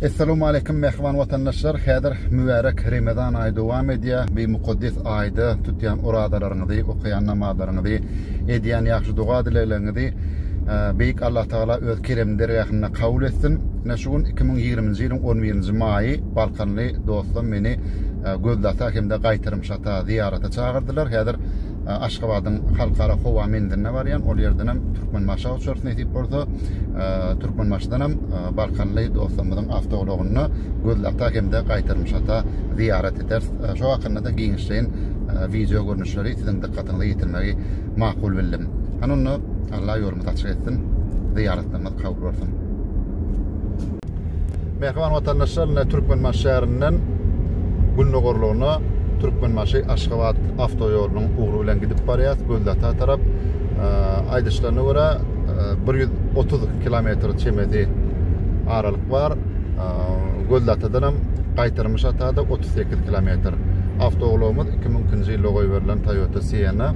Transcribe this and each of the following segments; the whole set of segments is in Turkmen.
Essalamu aleýkum mähriban watandaşlar. Häzir mübärek Remezan aýy dowam edýär. Bu mukaddes aýda tutýan orazalaryňyzy, okaýan namazlaryňyzy, edýän ýagşy doga-dilegleriňizi e, Beýik Allah Tagala öz kerem dergähinde kabul etsin. Ine şu gün 2020-nji ýylyň 11-nji maýy balkanly dostum meni e, Gözlata hem-de Gaýtarym şata zyýarata çagyrdylar. Häzir Aşgabadyň Halkara howa menziline barýan. Ol ýerdenem Türkmenbaşa uçarys nesip bolsa. Türkmenbaşdanam balkanly dostlarymyzyň awtoulagyna Gözli ata hem-de Gaýtarmyş ata zyýarat ederis. Şo hakynda-da giňişleýin wideo görnüşleri siziň dykgatyňyza ýetirmegi makul bildim. Hany onda, Allah ýolumyzy açyk etsin, zyýaratlarymyz kabul bolsun! Mähriban watandaşlar, ine Türkmenbaşy şäherinden gündogarlygyna Türkmenbaşy Aşgabat awtoýolunyň ugry bilen gidip barýas, Göldata tarap. Aýdyşlaryna görä, 130 kilometr çemesi aralyk bar. Göldatadan hem gaýtarym şatada 38 kilometr. Awtoulagymyz 2002-nji ýylda goýberilen Toyota Sienna.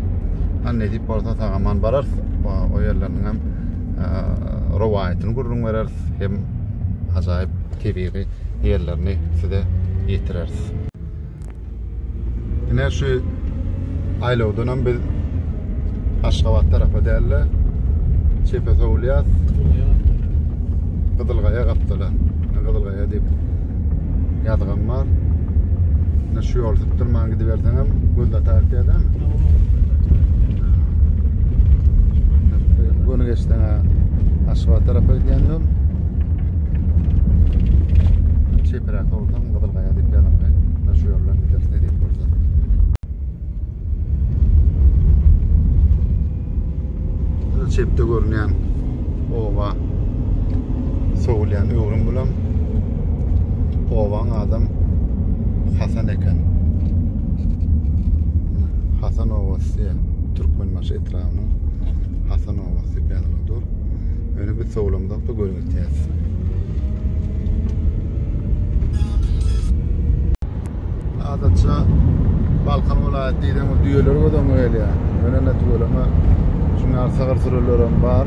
Hany nesip bolsa sag-aman bararys. O ýerleriniň hem rowaýatyny gürrüň bereris. hem ajaýyp tebigy ýerlerini size ýetireris. Ine şu aýlawdanam biz Aşgabat tarapa däl-de çepe sowulýas. Gyzylgaýa gapdala. Gyzylgaýa diýip Ýazgam bar. Indi şu ýoly sypdyrman gidiberseňem göz atar diýýärler. Göni geçseň Aşgabat tarapa gidýän ýol. Çepräk bolsaň Gyzylgaýa diýip ýazylgy. Şu ýoldan gidersin diýip bolsa. çepde görünýän oba sowulýan öwrüm bilen obaň adam Hasan eken. Hasan obasy Türkmenbaşy etrabynyň Hasan obasy Belgadur. Öne bir sowlamda bu görüntüýäs. Adatça Balkan welaýaty diýseň ol düýeler göz öňüňe gelýär. Ýöne tüweleme şunuň ýaly sygyr sürülerem bar.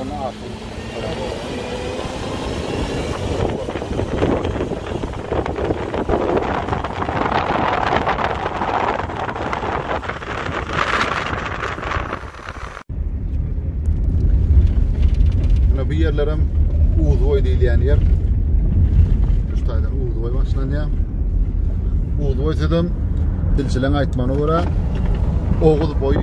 Ony asyl Mine bu yerlerim Uzuboy diýilýän ýer. Şu taýdan Uzuboy başlanýar. Uzuboy sözem dilçileň aýtmagyna görä Oguz boýy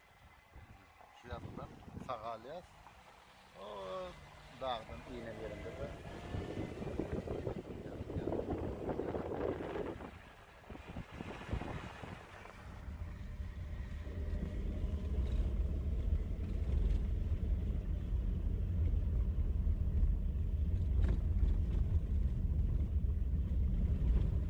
Şu ýatdan sag alýas. O dagdan inen ýerinde de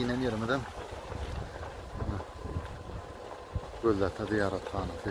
inen yerimizden Göllata ziyarethanesi.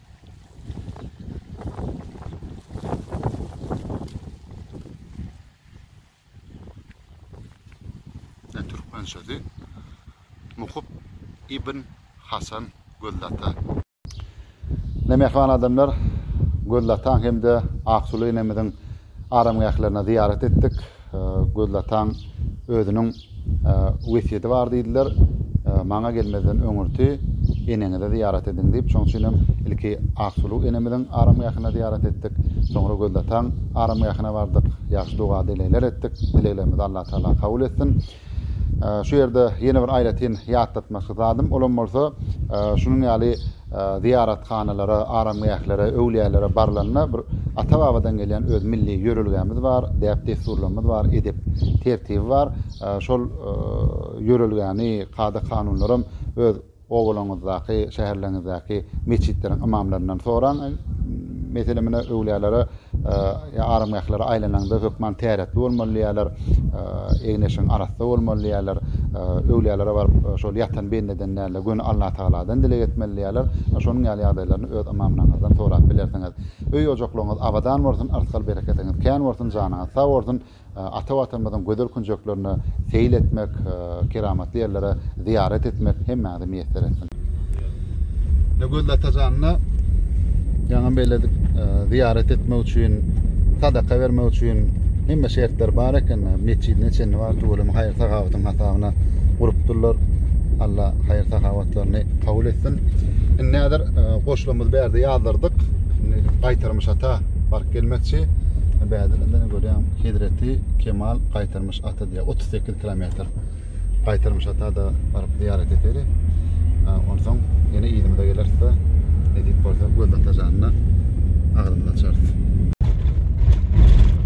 Ýa türkmen sözi Mukup ibn Hasan Gözlata. Ine mähriban adamlar, Gözlataň hem-de Aksuly enemiziň aramgählerine zyýarat etdik. Gözli ataň özüniň wesýeti bar diýdiler, Maňa gelmezden öňürti eneňize zyýarat ediň diýip, şonuň üçinem ilki Aksuluw enemiziň aramgähine zyýarat etdik. Soňra Gözli ataň aramgähine bardyk. Ýagşy doga-dilegler etdik. Dileglerimizi Allatagala kabul etsin. Şu ýerde ýene bir aýratyn ýatlatmakly zadym, olam bolsa, şunuň ýaly zyýarathanalara, aramgählere, öwlüýälere barlanda bir ata-babadan gelýän öz milli ýörelgämiz bar, däp-dessurlarymyz bar, edep tertibi bar. Şol ýörelgäni, kada-kanunlaram öz Obalaňyzdaky, şäherleriňizdäki metjitleriň ymamlaryndan soraň. Meselem, ine, öwlýälere ýa aramgählere aýlanaňda hökman täretli bolmaly diýýärler, egin-eşigiň arassa bolmaly diýýärler, öwlýälere baryp, şol ýatan bendeden däl-de, göni Allatagaladan dileg etmeli diýýärler. Şonuň ýaly ýagdaýlaryny öz ymamlaryňyzdan sorap bilersiňiz. Öý-ojaklaryňyz abadan bolsun, yrsgal-bereketiňiz kän bolsun, janyňyz sag bolsun! Ata Watanymyzyň gözel künjeklerine seýil etmek, keramatly ýerlere zyýarat etmek hemmäňize miýesser etsin! Nurgül Atajanyna ýaňam belledik, zyýarat etmek üçin, sadaka bermek üçin hemme şertler bar eken. Metjidine çenli bar, tüweleme haýyr-sahawatyň hasabyna gurupdyrlar. Alla haýyr-sahawatlaryny kabul etsin. Indi häzir goşlarymyzy bärde ýazdyrdyk. Indi gaýtarmyş ata baryp gelmekçi. Bärde indi Görýäň, hezreti Kemal Gaýtarmyş ata diýýär. 38 kilometr Gaýtarmyş ata da baryp zyýarat edeli. Onsoň ýene yzymyza geleris-de, nesip bolsa Göz ata janyna agzymyzy açarys.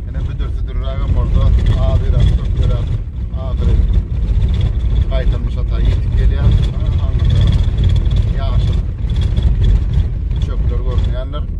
Ene büdür-südürrägem bolsa, azyrak, köpürak ahyry Gaýtarmyş ata ýetip gelýär. Aňyrda ýaşyl çöpler görünýändir.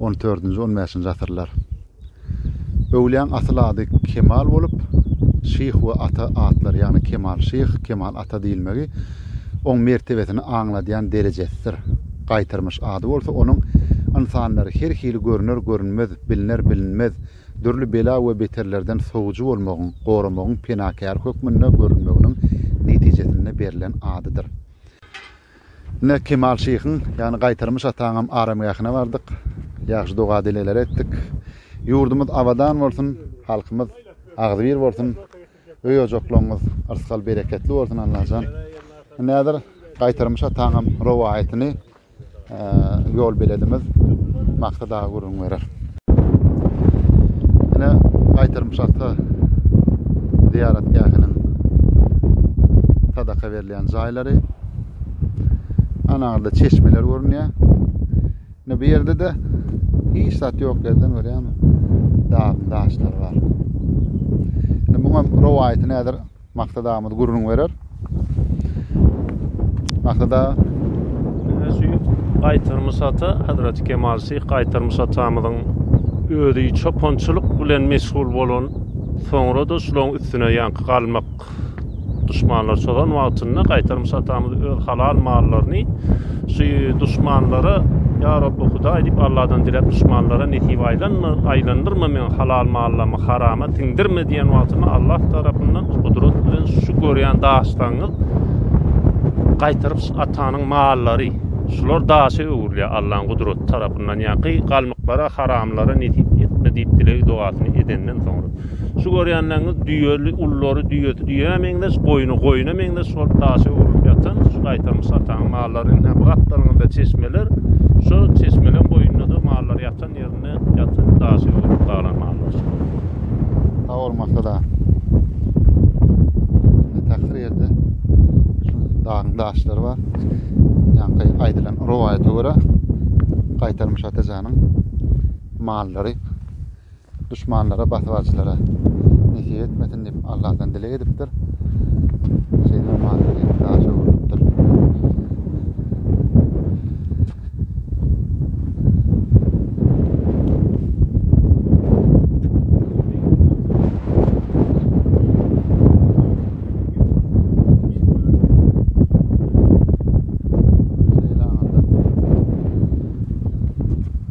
On dördünji, on bäşinji asyrlar. Öwlýäň asyl ady Kemal bolup, Şyh we Ata atlary, ýagny Kemal şyh, Kemal ata diýilmegi oň mertebesini aňladýan derejesidir. Gaýtarmyş ady bolsa onuň ynsanlary her hili görüner-görünmez, bilner-bilinmez, dürli bela we beterlerden sowujy bolmagyň, goramagyň penakäri hökmünde görünmeginiň netijesinde berlen adydyr. Ine, Kemal şyhyň, ýagny Gaýtarmyş ataňam aramgähine bardyk. Ýagşy doga-dilegler etdik. Ýurdumyz abadan bolsun, halkymyz agzybir bolsun, öý-ojaklaryňyz yrsgal-bereketli bolsun, Allajan! Indi häzir Gaýtarmyş ataňam rowaýatyny ýolbeledimiz Maksat aga gürrüň berer. Ine gaýtarym şahta zyýaratgähiniň sadaka berilýän jaýlary. Anaňyzda çeşmeler görünýär. Ne bu ýerde de hiç zat ýok ýerden görýärmi? Dagyn daşlar bar. Ne muňa rowaýaty näder? Maksat agymyz gürrüň berer. Maksat aga. Gaýtar Musata, Hazreti Kemal Syh Gaýtar Musatamyzyň özi çopançylyk bilen meşgul bolan, soňra da şularyň üstüne ýaňky galmak duşmanlar çozan wagtynda Gaýtar Musatamyz öz halal mallaryny Şu duşmanlara, Ýa Rabby Hudaý diýip, Alladan diläp, duşmanlara nesip aýlanma, aýlandyrma meň halal mallamy harama siňdirme diýen wagtynda Allah tarapyndan gudrat bilen şu görýän daşlaryňyz gaýtaryp şu atanyň mallary şular daşa öwrülýär Allaň gudraty tarapyndan ýa ky galmyklara haramlara nesip etme diýip dilegi dogasyny edenden soňra. Şu görýänleriňiz düýeli, ullary düýesi düýä meňzeş, goýny goýna meňzeş bolup daşa öwrülip ýatan şu gaýtalmyş ataň mallary. Ine, bu gapdalňyzda çeşmeler. Şo çeşmeleň boýunda-da mallar ýatan ýerinde ýatan daşa öwrülip galan mallar şolar. Sag bol, Maksat aga. Ine, tahyr ýerde şu dagyň daşlary bar. Ýaňky aýdylan rowaýata görä, gaýtalmyş ata janyň mallary. duşmanlara, basybaçylara nesip etmesin diýip Allahdan dileg edipdir. Şeýle maşgala daşa öwrülipdir.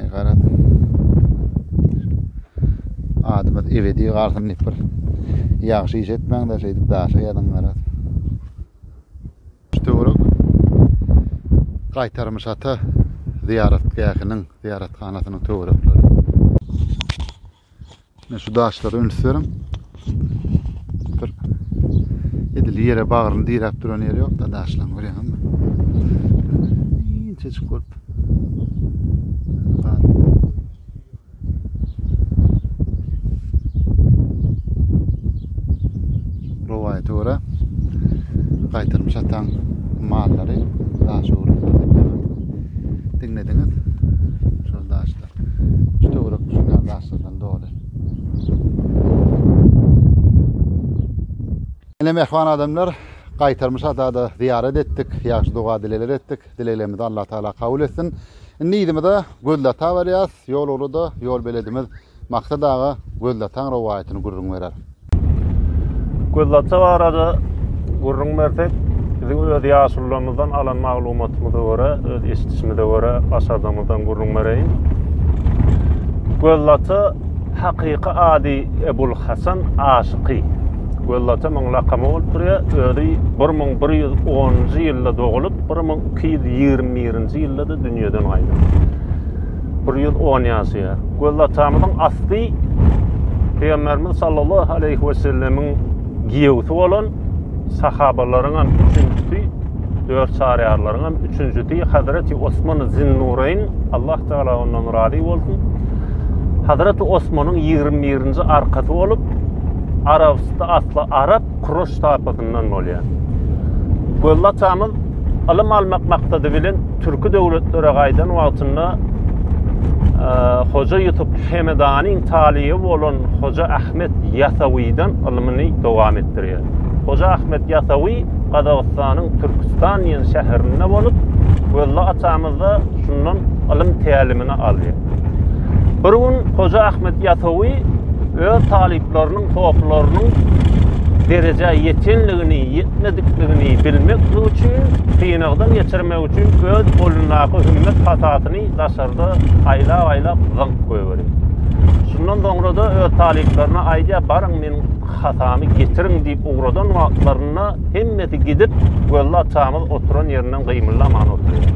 Ey garat. Adamyz ebedi galsyn diýip bir ýagşy iş etmäň de şeýdip daşa ýazyň garat. Töwerek gaýtarmyş ata zyýaratgähiniň zyýarathanasynyň töwerekleri. Men şu daşlara üns beriň. Bir edil ýere bagryny diräp duran ýeri ýok da daşlaň görýäňizmi? Inçejik bolup. Rowaýata görä gaýtarmyş ataň mallary daşa urulýar diýip diňlediňiz. Şol daşda. Şu töwerek bu şuny ýaly doly. Ene mehman adamlar, gaýtarmyş adada zyýarat etdik, ýagşy doga dilegler etdik. Dileglerimizi Allah Taala kabul etsin. Indi yzymyza Gözlata barýas. Ýol ugrada ýol beledimiz Maksat aga Gözlataň rowaýatyny gürrüň berer. Gözlata barada gürrüň bersek, biziň öz ýaşulularymyzdan alan maglumatymyza görä, öz eşidişimize görä, başardygymyzdan gürrüň bereýin. Gözlata hakyky ady Ebul Hasan Aşyky. Gözlata muň lakamy bolup durýar. Özi 1110-njy ýylda dogulyp, 1221-nji ýylda-da dünýeden gaýdypdyr. Bir ýüz on ýaşaýar. Göz atamyzyň asty Pygamberimiz sallallahu aleyhi ve sellemiň giýewsi bolan sahabalaryň hem üçünjisi, dört çaryarlaryň hem üçünjisi Hazreti Osman Zinnureyn, Allah Teala ondan razy bolsun. Hazreti Osmanyň 21-nji arkasy bolup, Arabysty asly arap, Kroş taýpasyndan bolýar. Gözli atamyz ylym almak maksady bilen türki döwletlere gaýdan wagtynda e, Hoja Ýusup Hemedanyň talyby bolan Hoja Ahmet Ýasawydan ylmyny dowam etdirýär. Hoja Ahmet Ýasawy Gazagystanyň Türkistan diýen şäherinde bolup, Gözli atamyz da şundan ylym tälimini alýar. Bir gün Hoja Ahmet Ýasawy öz talyplarynyň, hopylarynyň derejä ýetenligini, ýetmedikligini bilmek üçin, synagdan geçirmek üçin öz golundaky hümmet hatasyny daşarda aýlap-aýlap zyňyp goýberýär. Şundan soňra-da öz talyplaryna aýdýar, baryň meniň hatamy getiriň diýip ugradan wagtlarynda hemmesi gidip, gözlap çamyz oturan ýerinden gymyldaman oturýar.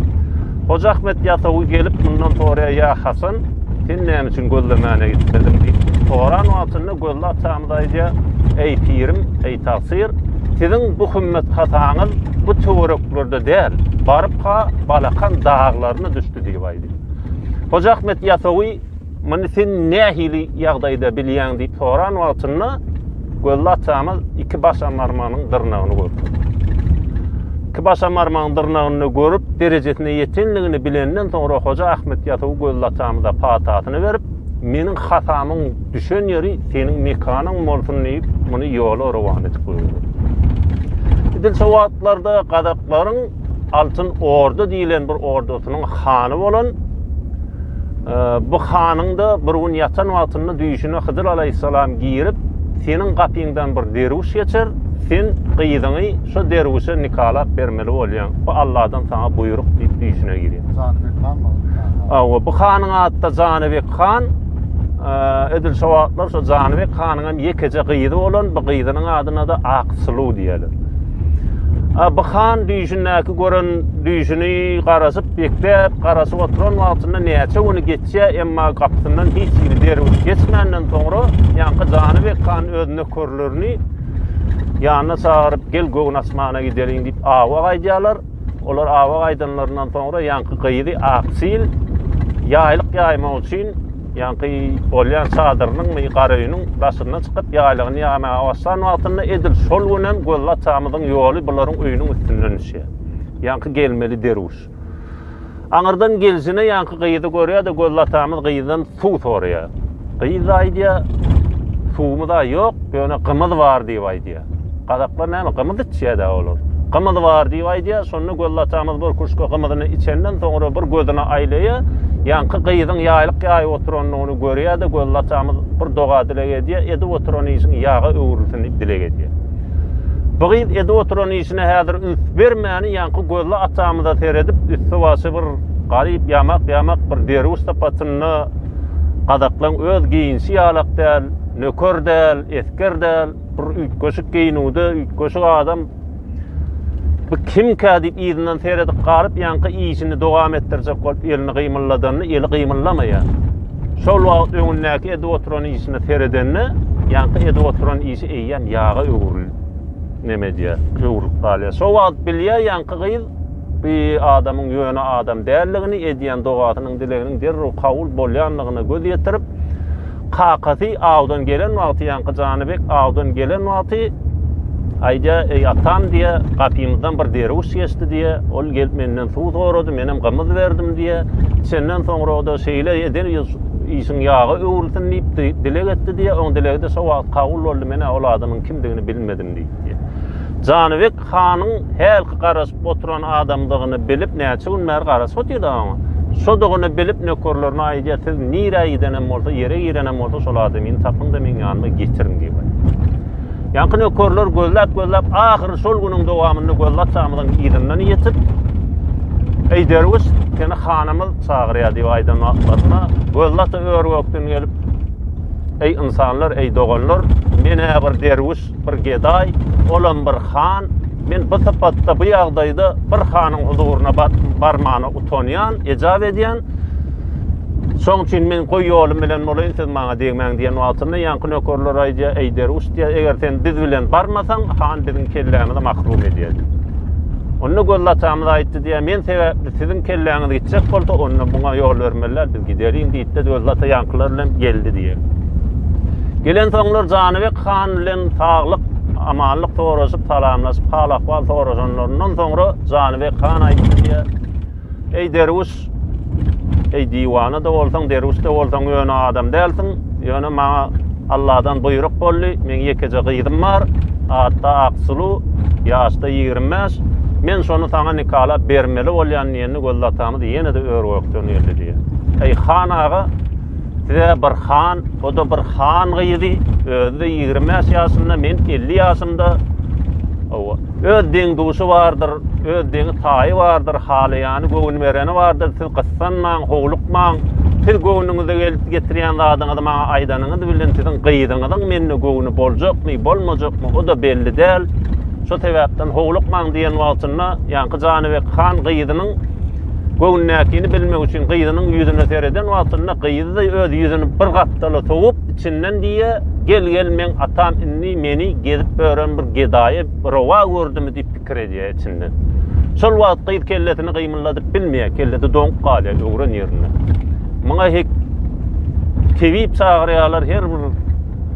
Hoja Ahmet ýatawy gelip mundan sorýar, Ýa Hasan, sen näme üçin Gözle mäne gitmediň? diýip soran wagtynda Gözle atamyz aýdýar, Eý, pirim, eý, tagsyr, siziň bu hümmet hasaňyz bu töwereklerde däl, baryp-ha Balakan daglaryna düşdi diýip aýdýar. Hoja Ahmet ýatawy. Muny sen nähili ýagdaýda bilýäň diýip soran wagtynda Gözli atamyz iki baş amarmanyň dyrnagyny görüpdir. Iki baş amarmanyň dyrnagyny görüp, derejesine ýetenligini bilenden soňra Hoja Ahmet Ýasawy Gözli atamyza patasyny berip, meniň hatamyň düşen ýeri seniň mekanyň bolsun diýip, muny ýola rowan edip goýupdyr. Edil şu wagtlarda gazaklaryň Altyn Orda diýilen bir ordasynyň hany bolan e, bu hanyň da bir gün ýatan wagtynda düýşüne Hydyr aleyhisselam girip, seniň gapyňdan bir derwüş geçer, sen gyzyňy şu derwüşe nikalap bermeli bolýaň. Bu Allahdan sana buýruk diýip düýşüne girýär. Janybek han mı? Awa, bu hanyň ady da Janybek han. Edil şu wagtlar şu Janybek hanyň Onuňam ýekeje gyzy bolan, bu gyzynyň adyna-da Aksuluw diýerler. Abu han düýşündäki gören düýşüni garaşyp, bekläp, garaşyp oturan wagtynda näçe güni geçýär, emma gapysyndan hiç hili derwiş geçmänden soňra, ýaňky Janybek han öz nökerlerini ýanyna çagyryp, Gel, göwün açmana gideliň diýip, awa gaýdýarlar. Olar awa gaýdanlaryndan soňra ýaňky gyzy Aksil ýaýlyk ýaýmak üçin Ýaňky bolýan çadyrynyňmy, garaöýüniň daşyna çykyp, ýaýlygyny ýaýmaga başlan wagtynda edil şol günem Gözli atamyzyň ýoly bularyň öýüniň üstünden düşýär. Ýaňky gelmeli derwüş. Aňyrdan gelşine ýaňky gyzy görýär-de, Gözli atamyz gyzdan suw soraýar. Gyz aýdýar, Suwumyz-a ýok, ýöne gymyz bar diýip aýdýar. Gazaklar näme, gymyz içýä-dä olar. Gymyz bar diýip aýdýar, şonda Gözli atamyz bir küşke gymyzyny içenden soňra bir gözüni aýlaýar, ýaňky gyzyň ýaýlyk ýaýyp oturanyny görýär-de, Gözli atamyz bir doga-dileg edýär, edip oturan işiň ýaga öwrülsin diýip dileg edýär. Bu gyz edip oturan işine häzir üns bermäni ýaňky Gözli atamyza seredip, üsti-başy bir garyp, ýamak-ýamak bir derwüş sypatynda, gazaklaň öz geýinişi ýalak däl, nöker däl, esger däl, Bir üýtgeşik geýinüwde üýtgeşik adam bu kimkä diýip yzyndan seredip galyp ýaňky işini dowam etdirjek bolup elini gymylladanda eli gymyllamaýar. Şol wagt öňündäki edip oturan işine seredende ýaňky edip oturan işi eýýäm ýaga öwrülip neme edýär, öwrülip galýar. Şol wagt bilýär ýaňky gyz bu adamyň ýöne adam däldigini, edýän dogasynyň dileginiň derrew kabul bolýandygyna göz ýetirip, Kakasy awdan gelen wagty ýaňky Janybek awdan gelen wagty aýdýa, Eý atam diýýä, gapymyzdan bir derwüş geçdi diýýä, ol gelip menden suw sorady, menem gymyz berdim diýýä, çenden soňra-da şeýle eden işiň ýaga öwrülsin diýip dileg etdi diýýä, oň dilegi-de şo wagt kabul boldy, men-ä ol adamyň kimdigini bilmedim diýipdi. Janybek Hanyň hälki garaşyp oturan adamdygyny bilip, näçe gün bäri garaşyp otyr-da oňa. Şodugyny bilip, nökerlerine aýdýar, Siz nirä gidenem bolsa, ýere girenem bolsa, şol adamyny tapyň-da, meň ýanyma getiriň diýip aýdýar. Ýaňky nökerler gözläp-gözläp, ahyry şol günüň dowamynda Gözli atamyzyň yzyndan ýetip, Eý, derwüş, seni hanymyz çagyrýar diýip aýdan wagtlaryna, Gözli ata ör-gökden gelip, Eý, ynsanlar, eý, doganlar, men-ä bir derwüş, Bir gedaý, olam bir han, men bu sypatda, bu ýagdaýda bir hanyň huzuryna barmana utanýan, ejap edýän. Şoň üçin men goý ýolum bilen bolaýyn, siz maňa degmäň diýen wagtynda ýaňky nökerler aýdýar, eý derwüş diýýär, eger sen biz bilen barmasaň, han biziň kellämizi mahrum edýär. Onda göz latamyz aýtdy diýýär, men sebäpli siziň kelläňiz gitjek bolsa, onda muňa ýol bermeliler, biz giderin diýýär. Biz öz lata ýaňkylar bilen geldi diýer. Gelen soňlar Janybek han bilen saglyk, amanlyk soraşyp, salamlaşyp, hal-ahwal soraşanlaryndan soňra Janybek han aýtdy diýer. Eý derwüş, eý diwana da bolsaň, derwüş de bolsaň ýöne adam dälsiň. Ýöne maňa Allahdan buýruk boldy. Meň ýekeje gyzym bar. Atda Aksulu, ýaşda 25. Men şony saňa nikalap bermeli bolýan diýen Gözli atamyz ýene-de ör-gökden geldi diýýär. Eý, han aga, size bir han, o-da bir han gyzy, özi-de ýigrimi bäş ýaşynda, men elli ýaşymda, hawa, öz deň-duşy bardyr, öz deňi-taýy bardyr, halaýany, göwün bereni bardyr, siz gyssanmaň, howlukmaň, siz göwnüňize gelip getirýän zadyňyzy maňa aýdanyňyz bilen siziň gyzyňyzyň mende göwni boljakmy, bolmajakmy, o-da belli däl, şo sebäpden howlukmaň diýen wagtynda, Ýaňky Janybek han gyzynyň göwnündäkini bilmek üçin gyzynyň ýüzüne sereden wagtynda gyzy öz ýüzüni bir gapdala sowup, içinden diýýä, Gel-gel, meň atam indi meni gezip ören bir gedaýy rowa gördümi diýip pikir edýä içinden. Şol wagt gyz kellesini gymyldadyp bilmeýä, kellesi doňup galýa öwren ýerinde. Muňa hek tebip çagyrýalar, her bir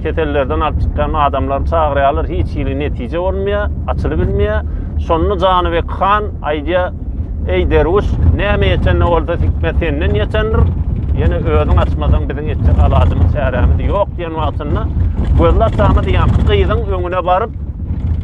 kesellerden alyp çykýan adamlary çagyrýarlar, hiç hili netije bolmaýar, açylyp bilmeýär. Şonda Janybek han aýdýar, Eý derwüş, näme etende bolsa hikmet senden geçendir. Ýene özüň açmasaň biziň etjek alajymyz, çärämiz ýok diýen wagtynda gözler çamy diýen gyzyň öňüne baryp,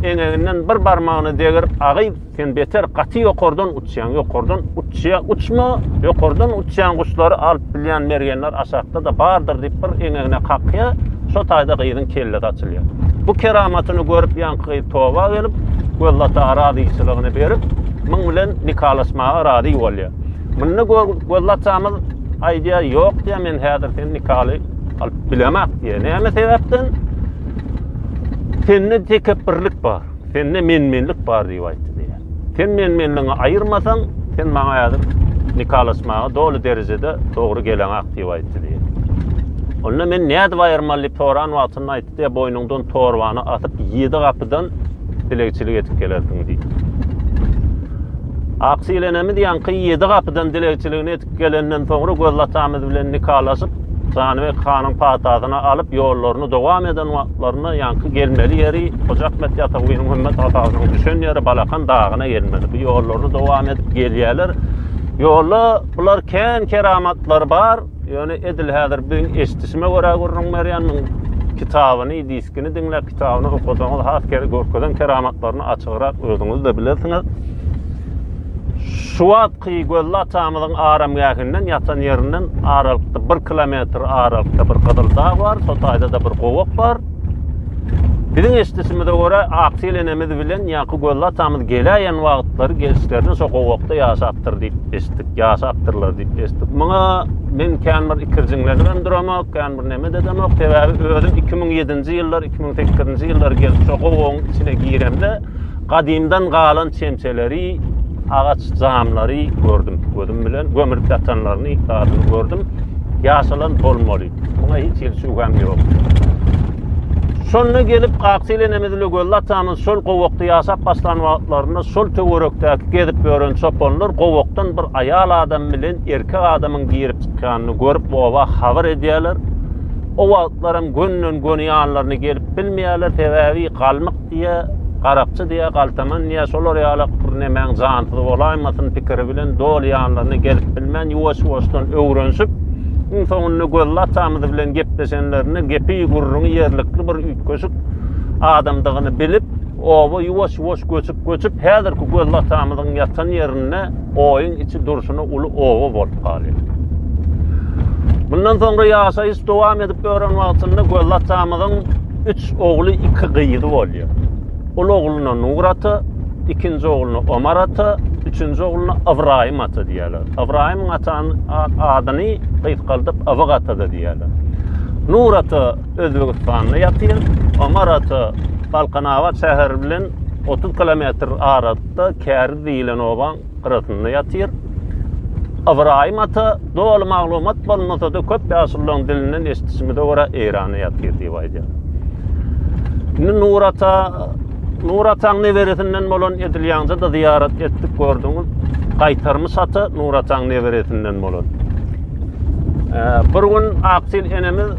eňeginden bir barmagyny degrip, agyz Sen beter gaty ýokardan uçýaň, ýokardan uçýa, uçma, ýokardan uçýan guşlary alyp bilýän mergenler aşakda da bardyr diýip bir eňegine kakýa, şo taýda gyzyň kellesi açylýa. Bu keramatyny görüp ýaňky gyz toba gelip, Gözlata arazyçylygyny berip, muň bilen nikalaşmaga razy bolýa. Munda Gözlatamyz aýdýa, ýok diýä, men häzir sen nikaly alyp bilemak diýä. Näme sebäpden? Sende tekepbirlik bar. Sende menmenlik bar diýip aýtdy diýýär. Sen menmenligiňi aýyrmasaň, sen maňa häzir nikalaşmaga doly derejede dogry geleňak diýip aýtdy diýýär. Onda men nädip aýyrmaly diýip soran wagtynda aýtdy diýýär, boýnuňdan torbany asyp, ýedi gapydan dilegçilik edip gelersiň diýdi. Aksyl enemiz ýaňky ýedi gapydan dilegçiligini gelenden soňra Gözel atamyz bilen nikalaşyp, Janybek hanyň patasyny alyp, ýollaryny dowam eden wagtlarynda ýaňky gelmeli ýeri Hoja Ahmet Ýasawynyň Hümmet atasynyň düşen ýeri Balakan dagyna gelmeli. Bu ýollaryny dowam edip gelýärler. Ýolda bular kän keramatlary bar. Ýöne edil häzir biziň eşidişime görä gürrüň berýänmiň kitabyny, diskini diňläp, kitabyny okasaňyz has kere görkezen keramatlaryny açygrak özüňiz-de bilersiňiz. Şu wagt Kygölli atamyzyň aramgähinden, ýatan ýerinden aralykda, bir kilometr aralykda bir gyzyl dag bar, şo taýda-da bir gowak bar. Biziň eşidişimize görä, Aksyl enemiz bilen Ýaky Gölli atamyz geläýen wagtlary gelşlerine şo gowakda ýaşapdyr diýip eşitdik, ýaşapdyrlar diýip eşitdik. Muňa men kän bir ikirjiňlenip hem duramok, kän bir nemet edemok. Sebäbi özüm iki müň ýedinji ýyllar, iki müň sekizinji ýyllar gelip şo gowagyň içine giremde, Gadymdan galan çemçeleri, agaç jamlary gördüm gözüm bilen. Gömülip ýatanlaryny zadyny gördüm. Ýaşalan bolmaly. Muňa hiç hili şübhäm ýok. Şonda gelip Aktilenemiz ile Göl atamyz şol gowakda ýaşap başlan wagtlarynda şol töwerekdäki gezip ýören çopanlar gowakdan bir aýal adam bilen erkek adamyň girip çykýanyny görüp oba habar edýärler. O wagtlar hem gönden göni ýanlaryna gelip bilmeýärler, sebäbi galmyk Garyp diýä, Garapçy diýä, Galtaman diýä, şolar ýalak bir nemäň jansyz bolaýmasyn pikiri bilen doly ýanlaryna gelip bilmän, ýuwaş-ýuwaşdan öwrenişip, iň soňunda Gözli atamyz bilen gepleşenlerinde gepi-gürrüňi ýerlikli bir üýtgeşik adamdygyny bilip, oba ýuwaş-ýuwaş göçüp-göçüp, häzirki Gözli atamyzyň ýatan ýerinde oýuň içi durşuna uly oba bolup galýar. Mundan soňra ýaşaýyş dowam edip ýören wagtynda Gözli atamyzyň üç ogly, iki gyzy bolýar. Ol ogluna Nur ata, ikinji ogluna Omar ata, üçünji ogluna Ybraýym ata diýýärler. Ybraýym atany adyny gysgaldyp Ybyk ata da diýýärler. Nur ata Özbegistanda ýatyr, Omar ata Balkanabat şäheri bilen 30 kilometr arasynda Käriz diýilen obaň gyrasynda ýatyr. Ybraýym ata doly maglumat bolmasa-da köp ýaşullaryň dilinden eşidişimize görä Eýranda ýatyr diýip aýdýar. Indi Nur ata Nur ataň neberesinden bolan edilýaňda da zyýarat etdik gördüňiz. Gaýtarmy sata Nur ataň neberesinden bolan. Bir gün Aktil enemiz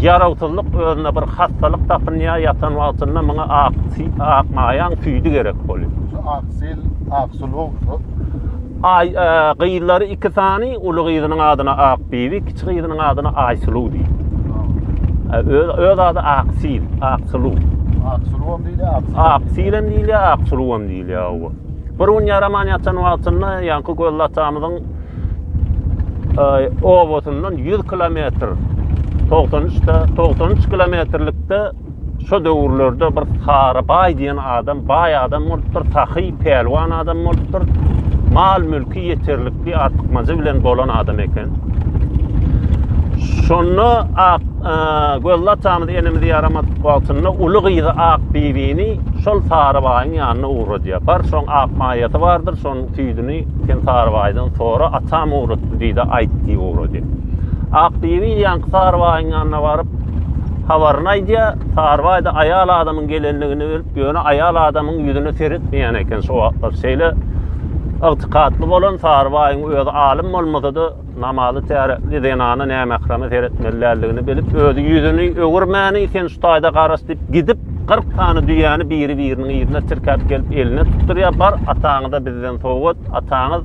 ýarawsyzlyk özüne bir hastalyk tapynýar, ýatan wagtynda muňa ak ak maýaň tüýdi gerek bolýar. Ak Sil Aksul oglu. Ay, e, gyzlary iki sany, uly gyzynyň adyna Akbibi, kiçi gyzynyň adyna Aýsuluw diýip. E, öz, öz ady Aksil, Aksuluw. Aksulwam diýilýär, Aksil. Aksil hem diýilýär, Aksuluw hem diýilýär. owa. Bir gün ýaraman ýatan wagtynda ýaňky Gözli atamyzyň e, obasyndan 100 kilometr 93 de 93 kilometrlikde Şo döwürlerde bir Kara baý diýen adam baý adam bolupdyr, sahy, pälwan adam bolupdyr. Mal-mülki ýeterlikli, artykmajy bilen bolan adam eken. Şonda ak e, gözli atamyz enemiz ýaramadyk wagtynda uly gyzy Ak bibini şol Sarybaýyň ýanyna ugradýar. Bar şoň ak maýasy bardyr, şonuň tüýdüni sen Sarybaýdan sora, atam ugratdy diýdi, aýt diýip ugradýar. Ak bibi ýanky Sarybaýyň ýanyna baryp, Habaryny aýdýar, Sarybaýda aýal adamyň gelenligini bilip, ýöne aýal adamyň ýüzüne seretmeýän eken şo wagtlar. Şeýle ygtykatly bolan Sarybaýyň özi alym bolmasa-da, namazy täretli zenana nämähreme seretmeli däldigini bilip, özi ýüzüni öwürmäni, Sen şu taýda garaş diýip gidip, kyrk sany düýäni biri-biriniň yzyna tirkäp gelip eline tutdurýar, Bar, ataňyza bizden sowgat, ataňyz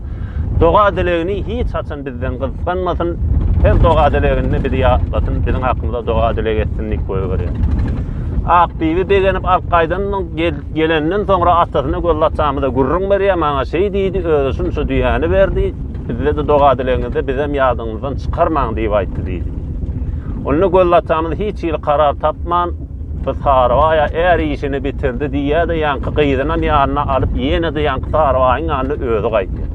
Doga-dilegini hiç haçan bizden gysganmasyn, her doga-dileginde bizi ýatlasyn, biziň hakymyza doga-dileg etsin diýip goýberýär. Akbibi begenip alyp gaýdandan gelenden soňra atasyna göz laçamyza gürrüň berýär, maňa şeý diýdi, özi şunça düýäni berdi, bizde-de doga-dilegiňizde bizem ýadyňyzdan çykarmaň diýip aýtdy diýdi. Onda göz laçamyz hiç hili karar tapman, Gyz Sarybaýa är işini bitirdi diýýär-de, ýaňky gyzynam ýanyna alyp, ýene-de ýaňky Sarybaýyň ýanyna özi gaýdýar.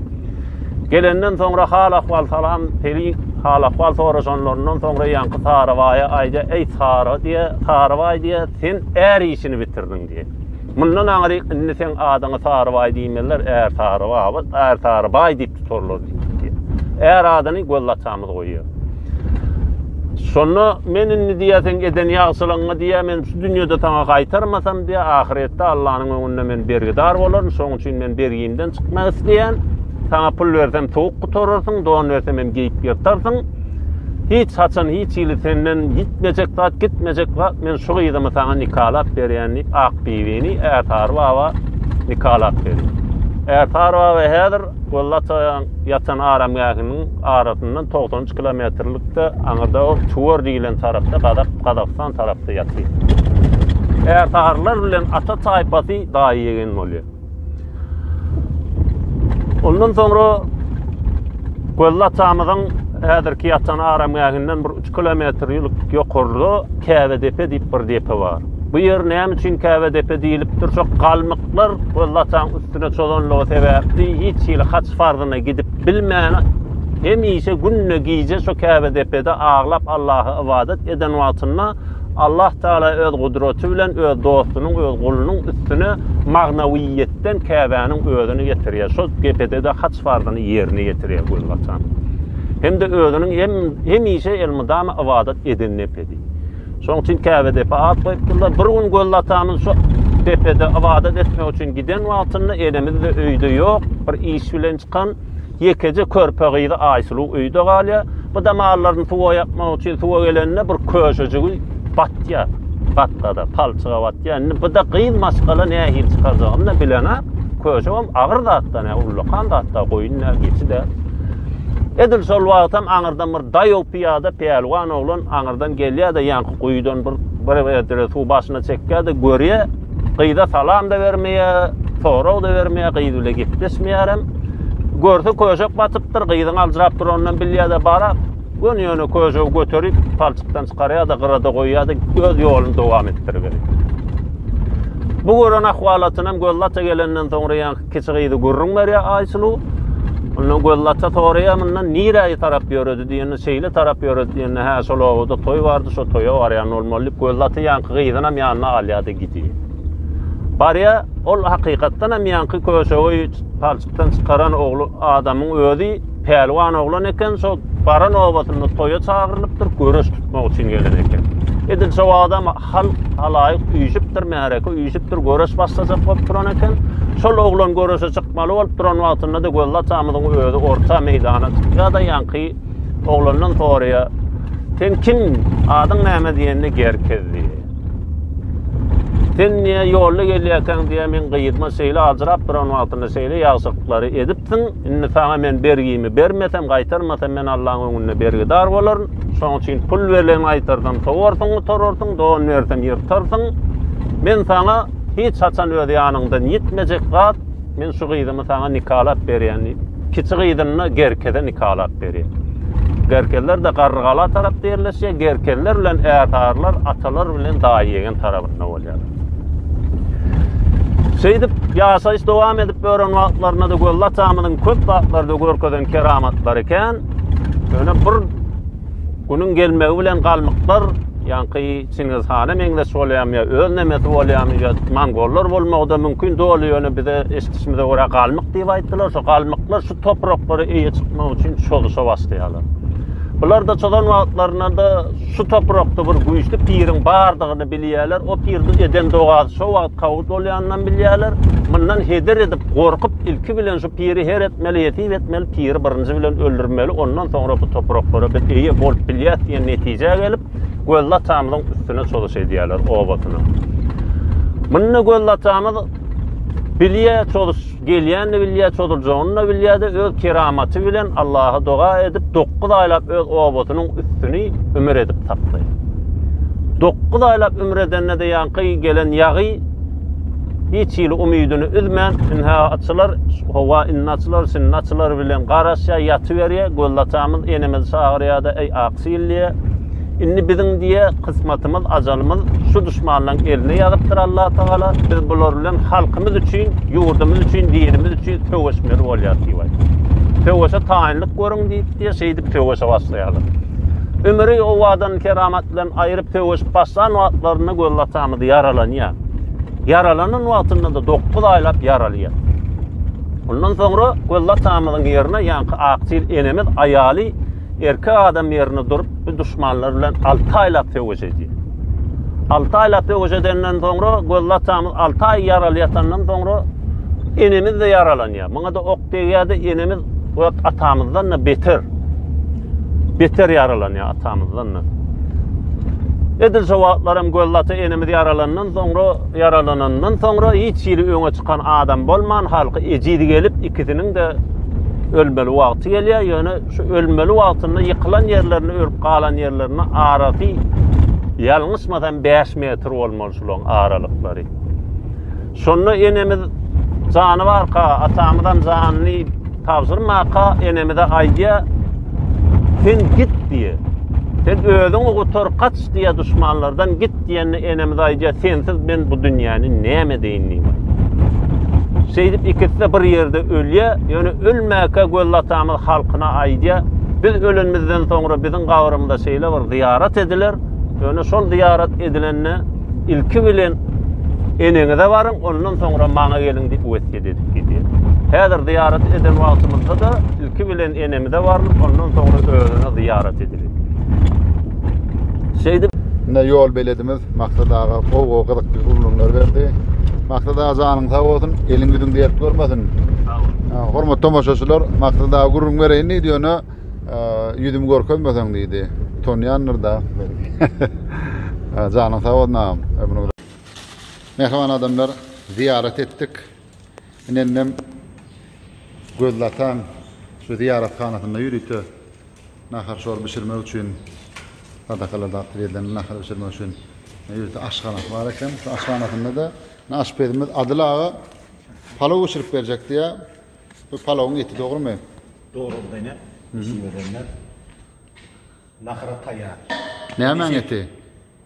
Gelenden soňra hal-ahwal salam, Pelin hal-ahwal soraşanlaryndan soňra ýaňky Sarybaýa aýdýar, Eý, Sary diýýär, Sarybaý diýýär, sen är işini bitirdiň diýýär. Mundan aňryk indi seň adyňa Sarybaý diýmezler, Ärsarybaby, Ärsarybaý diýip tutarlar diýipdi. Är adyny Gözlaçamyz goýýar. Şonda men indi diýýär, seň eden ýagşylygyňy diýýär, men şu dünýede saňa gaýtarmasam diýýär, ahyretde Allanyň öňünde men bergidar bolaryn, şonuň üçin men bergimden çykmak isleýän. Saňa pul bersem sowuk gutararsyň, don bersem hem geýip ýyrtarsyň. Hiç haçan hiç hili senden gitmejek zat, gitmejek zat. Men şu gyzymy saňa nikalap berýän diýip, ak bibini Ärsary baba nikalap berýär. Ärsary baba häzir Gollatoýaň ýatan aramgähiniň arasyndan 93 kilometrlikde aňyrda ol Çuwar diýilen tarapda, Gazak, Gazagystan tarapda ýatyr. Ärsarylar bilen ata taýpasy daýy-ýegen bolýar. Ondan soňra Gözli atamyzyň häzirki ýatan aramgähinden bir 3 kilometr ýokarda Käbe depe diýip bir depe bar. Bu ýer näme üçin Käbe depe diýilipdir? Şo galmyklar Gözli ataň üstüne çozanlygy sebäpli hiç hili haç farzyna gidip bilmän hemişe günde gije şo Käbe depede aglap Allaha ybadat eden wagtynda Allah Tagala öz gudraty bilen öz dostunyň, öz gulunyň üstüne magnawiýetden Käbäniň özüni getirýär. Şol gepedede haç farzyny ýerine ýetirýär gözbaşan. Hem-de özüniň hem hemişe elmydama ybadat eden nepedi. Şonuň üçin Käbe depe at goýupdyrlar. Bir gün gözbaşanyň şu depede ybadat etmek üçin giden wagtynda enemiz-de öýde ýok, bir iş bilen çykan. Ýekeje körpe gyzy Aýsuluw öýde galýar. Bu da mallaryny suwa ýakmak üçin suwa gelende bir köşejigi batýar. Gatgada, palçyga batýar. Indi bu da gyz maşgala nähili çykarjagyny da bilenok. Köşegem agyr zatda, ne ullakan zatda, goýun da, geçi de. Edil şol wagtam aňyrdan bir daýaw pyýada pälwan oglan aňyrdan gelýär-de, ýaňky guýudan bir bir edere suw başyna çekýär-de, görýär. Gyza salam-da bermeýär, sorag-da bermeýär, gyz bile gepleşmeýärem. Görse köşek batypdyr, gyzyň aljyrap duranyndan bilýär-de bara, göni ýöne köşegi göterip, palçykdan çykarýar-da, gyrada goýýar-da, öz ýoluny dowam etdiriberýär. Bu gören ahwalatynam göz lata gelenden soňra ýa Kiçi gyzy gürrüň berýär Aýsuluw. Onda Gözlaça soraýar mundan nirä tarap ýöredi diýende, şeýle tarap ýöredi diýende, hä şol obada toý bardy, şo toýa barýan bolmaly diýip Gözlaça ýanky gyzynam ýanyna alýar-da gidýär. Barýar, ol hakykatdan hem ýanky köşegi palçykdan çykaran ogly adamyň özi Pälwan oglan eken, şo baran obasynda toýa çagyrylypdyr, göreş tutmak üçin gelen eken. Edil şo adam halk halaýyk üýşüpdir, märeke üýşüpdir, göreş başlajak bolup duran eken. Şol oglan göreşe çykmaly bolup duran wagtynda-da Gözli atamyzyň özi orta meýdana çykýar-da, ýaňky oglandan soraýar, Sen kim? Adyň näme diýende Gerkez diýýär. Sen niýe ýolda gelýärkäň diýýär, men gyýytma şeýle ajrap duran wagtynda şeýle ýagşylyklary edipsiň. Indi saňa men bergimi bermesem, gaýtarmasam, men Allaň öňünde bergidar bolaryn. Şonuň üçin pul berlen gaýtarsam, sowarsyň, gutararsyň, don bersem, ýyrtarsyň. Men saňa hiç haçan öz ýanyňdan ýitmejek zat, men şu gyzymy saňa nikalap berýän diýip, kiçi gyzyny Gerkeze nikalap berýär. Gerkezler-de Garrygala tarapda ýerleşýär, Gerkezler bilen Ärsarlar atalar bilen daýy-ýegen tarabynda bolýar. Şeýdip, ýaşaýyş dowam edip bören wagtlarynda-da Gözli atamyzyň köp zatlarda görkezen keramatlary kän. Ýöne bir günüň gelmegi bilen galmyklar, ýaňky Çingiz hana meňzeş bolýarmy ýa öz nemesi bolýarmy ýa mongollar bolmagy-da mümkin, doly ýöne bize eşidişimize görä galmyk diýip aýtdylar. Şo galmyklar şu topraklara eýe çykmak üçin çozuşa başlaýarlar. Bular-da çozan wagtlarynda-da Şu toprakda bir güýçli piriň bardygyny bilýärler. O pirde eden dogasy şo wagt kabul bolýanynam bilýärler. Mundan heder edip, gorkup, ilki bilen şu piri her etmeli, ýesip etmeli, piri birinji bilen öldürmeli, ondan soňra bu topraklara biz eýe bolup bilýäs diýen netijä gelip, Gözli atamyzyň üstüne çozuş edýärler, obasyna. Munda Gözli atamyz bilýär çozuş Gelýänini bilýär, çozuljagyny-da bilýär-de, öz keramaty bilen Allaha doga edip, dokuz aýlap öz obasynyň üstüni ümür edip tapdy. Dokuz aýlap ümür edende-de ýaňky gelen ýagy hiç hili umydyny üzmän, ynha, açylar, howa indi açylar, şindi açylar bilen garaşýar, ýatyberýär. Gözlatamyz enemizi çagyrýar-da, Eý, Aksil! diýýär. Indi biziň diye kysmatymyz, ajalymyz şu düşmanlaryň eline ýazypdyr Allah Tagala. Biz bular bilen halkymyz üçin, ýurdumyz üçin, dinimiz üçin söweşmeli bolýar diýip aýtdy. Söweşe taýynlyk görüň diýip diye şeýdip söweşe başlaýarlar. Ömri owadan keramat bilen aýryp söweşip başlan wagtlarynda göz atamyz ýaralanýar. Ýaralanan wagtynda da 9 aýlap ýaralyýar. Ondan soňra göz atamyzyň ýerine ýaňky aktyr enemiz aýaly Erkek adam ýerinde durup, bu duşmanlar bilen 6 aýlap söweş edýär. 6 aýlap söweş edenden soňra, gözli atamyz 6 aý ýaraly ýatandan soňra, enemiz de ýaralanýar. Muňa da ok degýär-de, enemiz öz atamyzdan da beter. Beter ýaralanýar atamyzdan da. Edil şu wagtlar hem gözli ata enemiz ýaralandan soňra, ýaralanandan soňra hiç ýeri öňe çykan adam bolman, halky ejiz gelip, ikisiniň de ölmeli wagty gelýär, ýöne Şu ölmeli wagtynda ýykylan ýerlerinde ölüp galan ýerlerinde arasy ýalňyşmasam bäş metr bolmaly şulaň aralyklary. Şonda enemiz jany barka atamyzam janyny tabşyrmaka enemize aýdýa sen git diýe. Sen özüňi gutar kaç diýe duşmanlardan git. Git diýende enemiz aýdýar, sensiz men bu dünýäni näme edeýin diýip. Şeýdip ikisi bir ýerde ölýär, ýöne ölmäkä Gözli atamyz halkyna aýdýar, biz ölenimizden soňra biziň gabrymyza şeýle bir zyýarat ediler, ýöne şol zyýarat edilende ilki bilen eneňize baryň, ondan soňra maňa geliň diýip wesýet edip gidýär. Häzir zyýarat eden wagtymyzda-da ilki bilen enemize barlyp, ondan soňra özüne zyýarat ediler. Şeýdip Ine ýol beledimiz Maksat aga gowy gyzykly gürrüňler berdi. Maksat aga janyň sag bolsun, eliň ýüzüň dert görmesin. Sag bol. Hormatly tomaşaçylar, Maksat aga gürrüň bereýin diýdi, ýöne ýüzümi görkezmeseň diýdi. Utanýandyr da. Janyň sag bolsun agam. Mähriban adamlar, zyýarat etdik. Indem gözlatan şu zyýarathanasynda ýörite Nahar şor bişirmek üçin sadakalarda atly berlen nahar bişirmek üçin ýörite aşhanasy bar eken. Şu aşhanasynda-da aşpezimiz Adyl aga palaw bişirip berjek diýýär. Bu palawyň eti dogrumy? Dogrudyr ine. Eşiberenler. Nahara taýýar. Nämäň eti?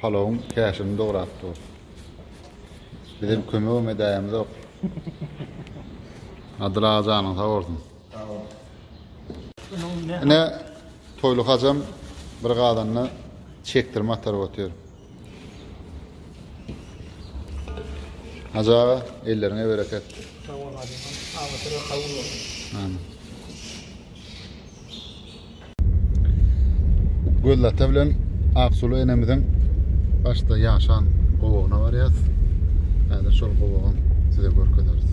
Palawyň käşini dograp dur. Bizem kömegem edäýemzok. Adyl aga janyň sag bolsun. Sag bol. Ine Toýly hajam bir gazanda çekdirme ataryp otyr. Hajy aga elleriňe bereket. Sag bol hajy aga. Aňyrsy kabul bolsun. Amin. Gözel ata bilen Aksulu enemiziň başda ýaşan gowagyna barýas. Häzir şol gowagy size görkezeris.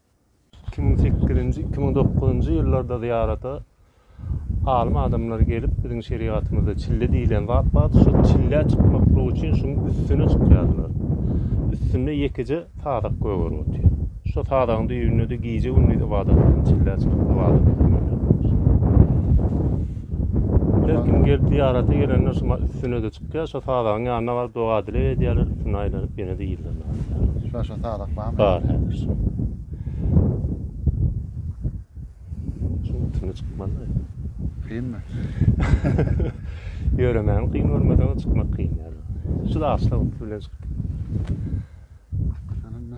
Iki müň sekizinji, iki müň dokuzynjy ýyllarda zyýarata alym adamlar gelip, biziň şerigatymyzda çille diýlen zat bar, şu çille çykmaklyk üçin şuň üstüne çykýardylar. Üstünde ýekeje sadak gögeri otýar. Şo sadagyň düýbünde-de gije-gündiz ybadat bilen çille çykyp ybadat edýärler. Her kim gelip zyýarata gelende şuňa üstüne-de çykyp Gel şo sadagyň ýanyna baryp doga-dileg edýärler, üstüne aýlanyp ýene-de yzlaryna barýarlar. Şular şo sadak barmy? Bar, hä, şu. Şuň üstüne çykmaly. Kynmy? Ýöremäň kyn bolmasa çykmak kyn ýaly. Şu daşlyk bilen çykyp gitmeli. Şonda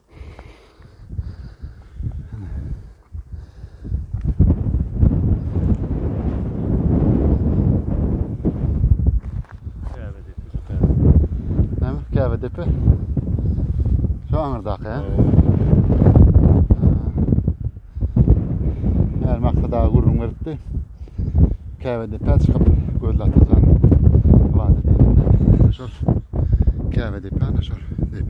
Käbedepe. Şu aňyrdaky, he? Her maksada gurrun beripdi. Käbedepe çykyp gözle atajan. Vadi diýip. Şol Käbedepe ana şol diýip.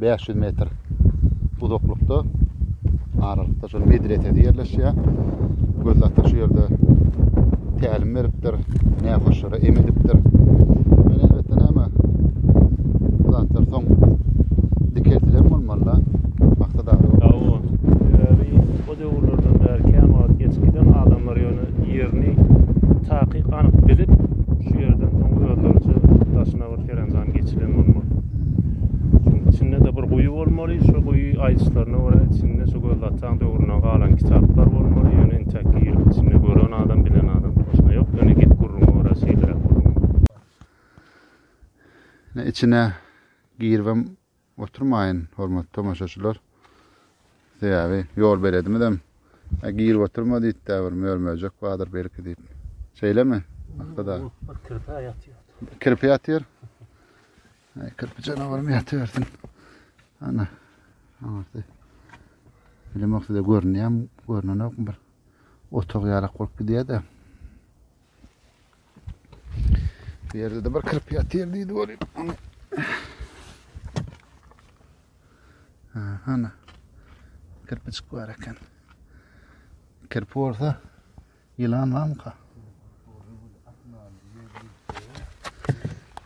bäş ýüz metr uzaklykda aralykda şol medresesi ýerleşýär. Göz ata şu ýerde tälim beripdir, nähoşlara em edipdir. Men elbetde näme bu zatlar soň dikeltilen bolmaly. Maksat abi. Ýa-o. Sebäbi o döwürlerden bäri kän wagt geçip giden adamlar ýöne ýerini takyk anyk bilip, şu ýerden soň özleriçe daşyna bir Serendan geçilen bolmaly. Şoň içinde-de bir guýy bolmaly, şu guýy aýdyşlaryna görä içinde şu gözlataň döwründen galan kitaplar bolmaly, ýöne intäk girip içinde gören adam, bilen adam başga ýok, ýöne git gürrüňe görä şeýleräk bolmaly. Ine içine giribem Oturmaýyn hormatly tomaşaçylar. Sebäbi ýol beledimizem Äý girip oturma diýipdä bir mör-möjek bardyr belki diýip. Şeýlemi? Ahtada. Bir kirpä ýatýar. Kirpi ýatýar. Äý kirpi janawarym ýatybersin. Ana. Aňyrsy. Bilemok size görünýärmi, görnenokmy bir otag ýalak bolup gidýär-de. Bu ýerde de bir kirpi ýatyr diýdi görýän. Ana. Kirpi çyk bar eken. Kirpi bolsa ýylan barmyka?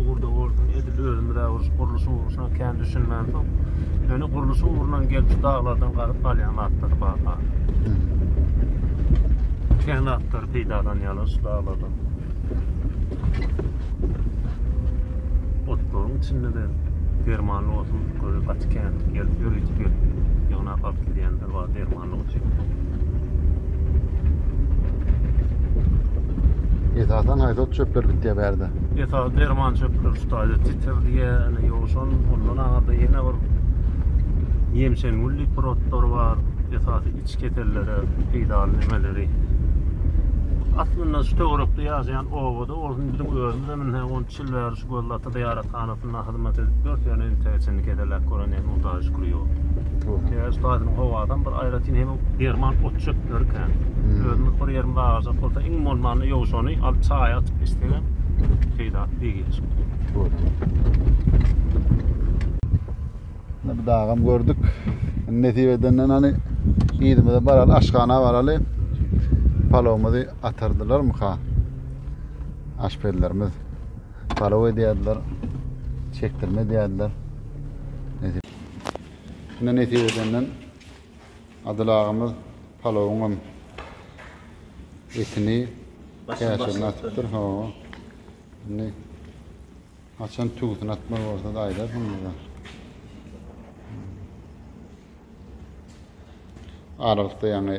Ugurda boldum, edil özümiz äwürüş gurluşyň ugruşyna kän düşünmän soň, ýöne gurluşyň ugrundan gelip şu daglardan gazyp galýan zatlar bar ha. Kän zatlar peýdalanýarlar şu daglardan. Otlaryň içinde de dermanly otun gaty kän gelip ýörütip gelip ýygnap alyp gidýänler bar derman. Esasan haýsat çöpler bitýär bärde? Esas derman çöpler ştaýda titir diýen, ýowşan, ondan aňyrda ýene bir ýemşen gül diýip bir otlar bar. Esasy iç kesellere peýdaly nimeleri. Aslynda şu töwerekde ýaşaýan obada bolsun, biziň özümizem indi Çilweriş Gözlata zyýarathanasynda hyzmat edip dört ýöne entäge çenli keseläp gören ýaly Nurdaýy şükür ýok. Çilweriş taýsynyň howadan bir aýratyn hem derman ot-çöpleri kän. Özümiz bir ýerimiz agajak bolsa iň bolmanda ýowşany alyp çaýa atyp içsegem peýdasy deý gelişip dur. Ine bu dagam gördük. Nesip edenden hany yzymyza baraly, aşhana baraly. Palawymyzy atardylarmyka? Aşpezlerimiz palaw edýärdiler, çekdirme edýärdiler. Şunda nesip edenden Adyl agamyz palawyň hem etini käşirini atypdyr. Ho. Indi haçan tüwüsini atmaly bolsa da aýdarsyň bize. Aralykda ýaňy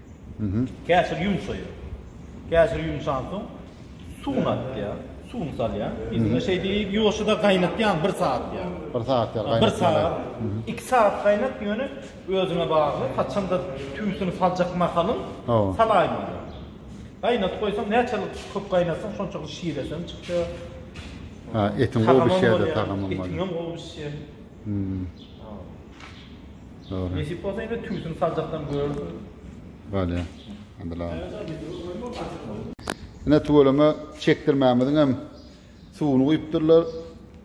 Käşir ýumşaýar. Käşir ýumşansoň suwuny atýar. Suwuny salýar. Indi şeý diýip ýoşuda gaýnatýan bir sagat ýaly. Bir sagat ýaly gaýnatýar. Bir sagat. Iki sagat gaýnat ýöne özüňe bagly. Haçanda tüýsüni saljak mahalyň salaýmaly. Gaýnadyp goýsaň näçelik köp gaýnatsaň şonçalyk şiresi hem çykýar. Ha etiň gowy bişýär-de tagamam bolýar. Etiňem gowy bişýär. Dogry. Nesip bolsa indi tüýsini saljakdan görersiň. Bolýa. Adylam. Ine tüweleme çekdirmämiziň hem suwuny guýupdyrlar.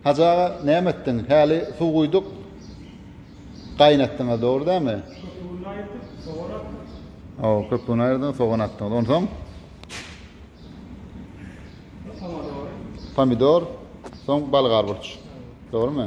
Hajy aga näme etdiň? Häli suw guýduk. Gaýnatdyňyz dogry dämi? Köpügini aýyrdyk, sogan atdyk. Hawa, köpügini aýyrdyňyz, sogan atdyňyz. Onsoň? Pomidor. Pomidor, soň balyk arburç. Dogrymy?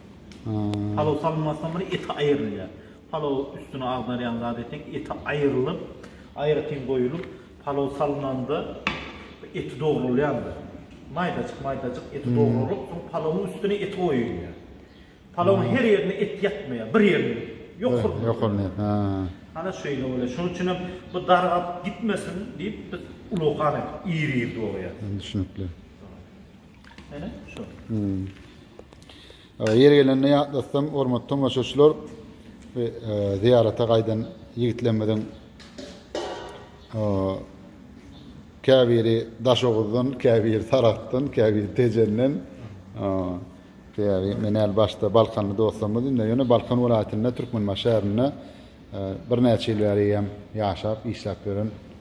Palaw salynmasdan bir eti aýrylýar. Palaw üstüne agdarýan zady tek eti aýrylyp, aýratyn goýulyp, palaw salynanda eti dogrulýandyr. Maýdajyk-maýdajyk eti dogralyp, soň palawyň üstüne eti goýulýar. Palawyň her ýerine et ýakmaýar, bir ýerine ýokuryny. Ýokuryny, hä. Hana şeýle bolýar. Şonuň üçin hem bu dargap gitmesin diýip, biz ulugan edip, iri-iri dograýarys. Düşnükli. Hele şu. Hmm. Ýer gelende ýatlatsam, hormatly tomaşaçylar we e, zyýarata gaýdan ýigitlerimiziň e, käbiri Daşoguzdan, käbiri Sarahdan, käbiri Tejenden e, Diýýäri, men äl başda Balkanly dostlarymyz indi ýöne Balkan welaýatynda Türkmenbaşy şäherinde e, birnäçe ýyl bäri hem ýaşap, işläp ýören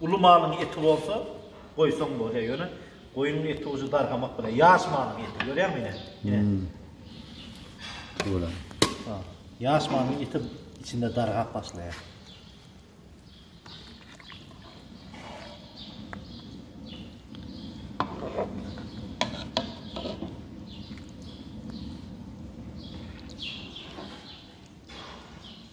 Uly malyň eti bolsa, goýsaň bolýar, ýöne goýnuň eti ujy dargamak bilen, ýaş malyň eti, görýäňmi ine? Ine. Şöyle. Ha. Ýaş malyň eti içinde dargap başlaýar.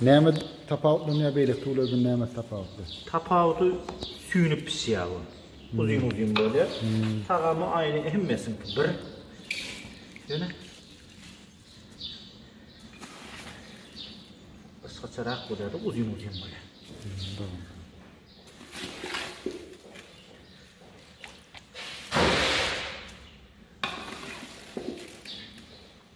Näme tapawutlanýar beýleki tüwlerden näme tapawutly? Tapawudy süýnüp pişýär bu. Uzyn uzyn bolýar. Tagamy aýny hemmesiňki bir. Ýöne gysgaçarak bolýar-da uzyn uzyn bolýar. Dogry.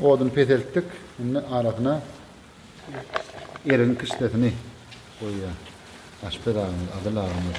Oduny peseltdik. Indi arasyna erigiň kişdesini goýýan aşpez agamyz, Adyl agamyz.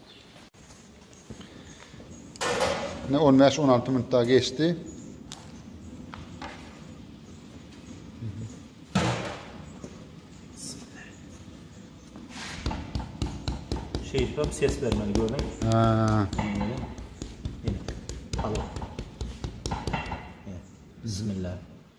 Ne 15-16 minut daha geçti. Şey tutup ses vermeli gördün. Ha. Bismillah.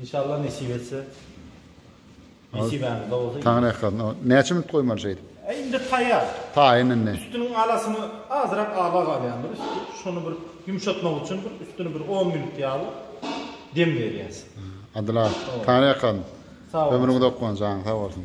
Inşallah nesip etse. Nesibämizde bolsa. Taňyň ýakasyna. Näçe minut goýmaly şeýdip? Indi taýýar. Taýyn indi. Üstüniň alasyny azyrak awa galýandyr üsti. Şony bir ýumşatmak üçin bir üstüni bir on minut ýaly dem berýäs. Adyl aga, taňyň ýakasyny. Sag bol. Ömrüňiz ok bolsun, janyň sag bolsun.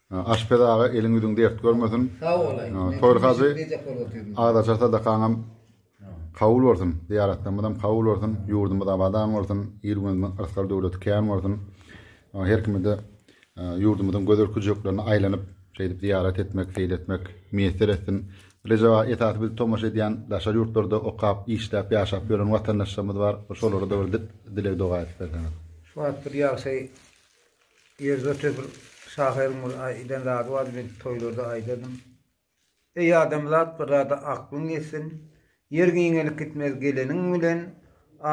Aşpez aga eliň ýüzüň dert görmesin. Sag bolaý. Toýly hajy agzaçar sadakaňam kabul bolsun. Zyýaratlarymyzam kabul bolsun. Ýurdumyz abadan bolsun. Il-günümiziň yrsgal döwleti kän bolsun. Her kime-de ýurdumyzyň gözel küjeklerine aýlanyp, şeýdip zyýarat etmek, seýil etmek miýesser etsin. Rejep aga esasy bizi tomaşa edýän daşary ýurtlarda okap, işläp, ýaşap ýören watandaşlarymyz bar. Şolara-da bir dileg-doga edip berseňiz. Şu wagt bir ýagşy Ýerde bir şahyryň bir aýdan zady bardy, men toýlarda aýdardym. Eý adamzat bir zada aklyň ýetsin, Ýer giňelip gitmez geleniň bilen,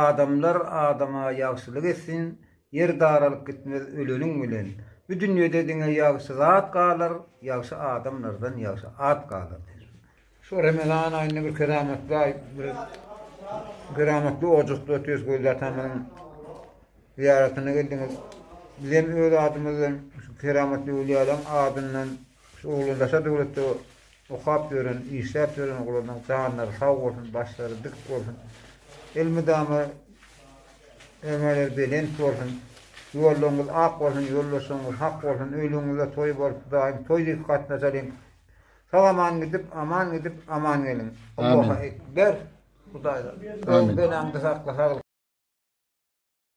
Adamlar adama ýagşylyk etsin, Ýer daralyp gitmez öleniň bilen. Bu dünýede diňe ýagşy zat galar, Ýagşy adamlardan ýagşy at galar. Şu Remezan aýynda bir keramatly aý, bir keramatly ojakda otyrs Gözli atamyzyň zyýaratyna geldiňiz. Bizem öz adymyzdan şu keramatly öwliýalaň adyndan şu oglandaşa döwletde okap ýören, işläp ýören oglanlaryň janlary sag bolsun, başlary dik bolsun. Elmydama öňeleri belent bolsun. Ýollaryňyz ak bolsun, ýoldaşlaryňyz hak bolsun. Öýleriňizde toý bolup, daýym toý diýip gatnaşalyň. Sag aman gidip, aman gidip, aman geliň. Alloha ekber. Hudaýdan. Amin. Öň beläňde sakla, saglyk.